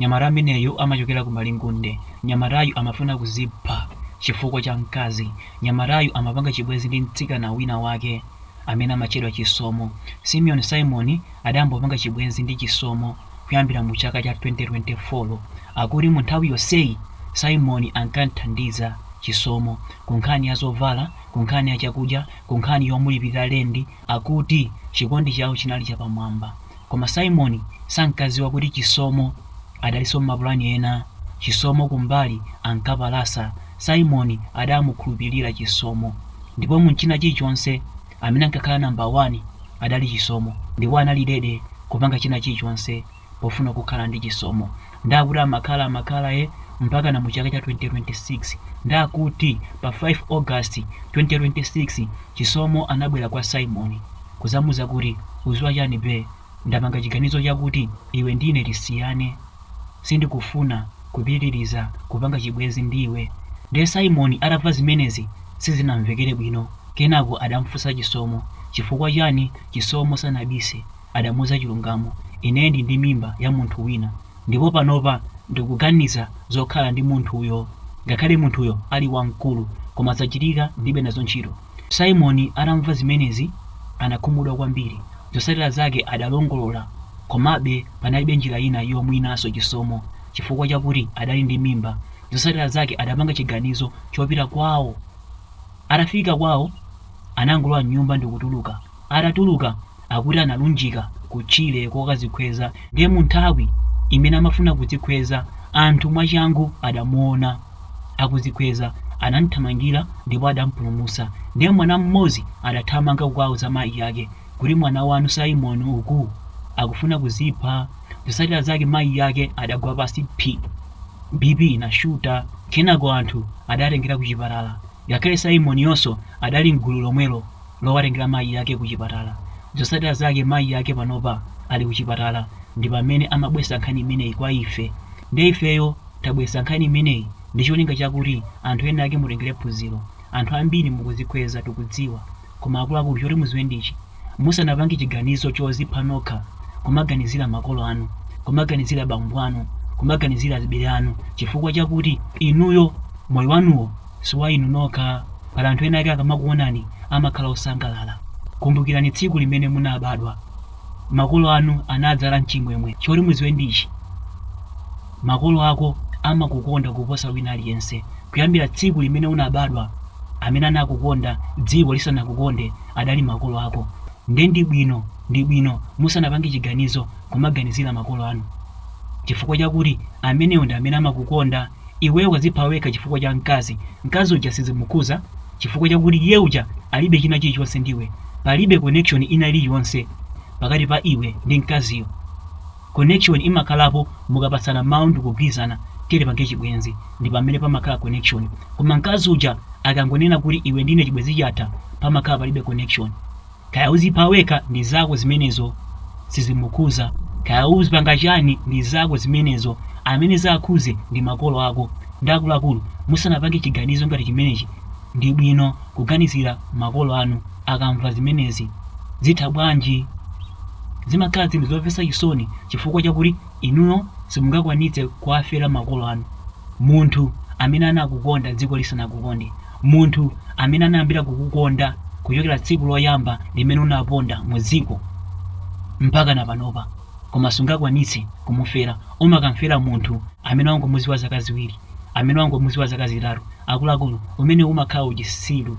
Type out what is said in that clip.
Mnyamata ameneyu amachokera ku Malingunde. Mnyamatayu amafuna kuzipha chifukwa cha mkazi. Mnyamatayu amapanga chibwenzi ndi mtsikana wina wake amene amatchedwa Chisomo. Simoni, Simoni adayamba kupanga chibwenzi ndi Chisomo kuyambira mu chaka cha 2024. Akuti mu nthawi yonseyi Simon ankamthandiza Chisomo ku nkhani ya zovala, ku nkhani ya chakudya, ku nkhani yomulipirira lendi, Akuti chikondi chawo chinali chapamwamba, koma Simon sankadziwa kuti Chisomo adalinso m'mapulani ena. Chisomo kumbali ankapalasa, Simon adamukhulupilira Chisomo. Ndipo mu china chilichonse, amene ankakhala number one adali Chisomo, ndipo anali ready kupanga china chilichonse. pofuna kukhala ndi Chisomo nde akuti amakhala amakhala e mpakana mu chaka cha 2026 nde akuti pa 5 August 2026 Chisomo anabwera kwa Simon kuzamuuza kuti uziwa chani bae ndapanga chiganizo chakuti iwe ndine tisiyane sindikufuna kupitiliza kupanga chibwezi ndiwe nde Simon atamva zimenezi sizinamvekere bwino kenako adamfunsa Chisomo chifukwa chani Chisomo sanabise adamuuza chilungamo, ineyo ndili ndi mimba ya munthu wina ndipo panopa ndikuganiza zokhala ndi munthuyo. Ngakhale munthuyo ali wamkulu koma zachitika ndilibe nazo ntchito. Simoni atamva zimenezi anakhumudwa kwambiri. Zotsatira zake adalongolola komabe panalibe njira ina yomuwinanso Chisomo chifukwa chakuti adali ndi mimba. Zotsatira zake adapanga chiganizo chopita kwawo. Atafika kwawo anangolowa m'nyumba ndikutuluka. Atatuluka akuti analunjika ku tchire kokazikhweza ndiye munthawi imene amafuna kudzikhweza anthu mwachangu adamuona akuzikhweza anamthamangira ndipo adampulumusa ndiye mwana mmodzi adathamanga kukauza mayi ake kuti mwana wanu Simon uku akufuna kuzipha zosatira zake mayi ake adagwa pansi phi BP inashuta kenako anthu adawatengera kuchipatala ngakhale Simoniyonso adali mgulu lomwero lowatengera mayi ake kuchipatala. Zotsatira zake mayi ake panopa ali kuchipatala ndi pamene amabweretsa nkhani imeneyi kwa ife. Ndiye ifeyo tabweretsa nkhani imeneyi ndi cholinga chakuti anthu ena ake mutengere phunziro. Anthu ambiri mukudzikhweza tikudziwa koma akuluakulu choti mudziwe ndi ichi, musanapange chiganizo chodzipha nokha kumaganizira makolo anu, kumaganizira bambo anu, kumaganizira azibale anu chifukwa chakuti inuyo moyo wanuwo si wa inu nokha. Pali anthu ena ake akamakuonani amakhala osangalala. Kumbukirani tsiku limene munabadwa. Makolo anu anadzala n'chimwemwe. Choti mudziwe ndi ichi, Makolo ako amakukonda kuposa wina aliyense. Kuyambira tsiku limene unabadwa, amene anakukonda dziko lisanakukonde adali makolo ako. Nde ndi bwino ndi bwino musanapange chiganizo kumaganizira makolo anu chifukwa chakuti amenewo ndi amene amakukonda. Iweyo wazipha wekha chifukwa cha mkazi. Mkazi uja sizimukhuza chifukwa chakuti iye uja alibe china chilichonse ndiwe. Palibe connection ina iliyonse pakati pa iwe ndi mkaziyo. Connection imakhalapo mukapatsana mawu ndikugwirizana tiyeni tipange chibwenzi ndi pamene pamakhala connection. Koma mkazi uja akangonena kuti iwe ndine chibwenzi chatha pamakhala palibe connection. Kaya uzipha wekha ndi zako zimenezo sizimukhuza, kaya uzipanga chani ndi zako zimenezo, amene zakhuze ndi makolo ako akuluakulu. Musanapange chiganizo ngati chimenechi ndi bwino kuganizira makolo anu akamva zimenezi zitha bwanji? Zimakhala zinthu zomvetsa chisoni chifukwa chakuti inuyo simungakwanitse kuwafera makolo anu, munthu amene anakukonda dziko lisanakukonde. munthu amene anayambira kukukonda kuchokera tsiku loyamba limene unaponda mu dziko mpaka na panopa koma sungakwanitse kumufera umakamfera munthu amene wangomuziwa zaka ziwiri amene wangomuziwa zaka zitatu akuluakulu umenewo umakhala uchisiru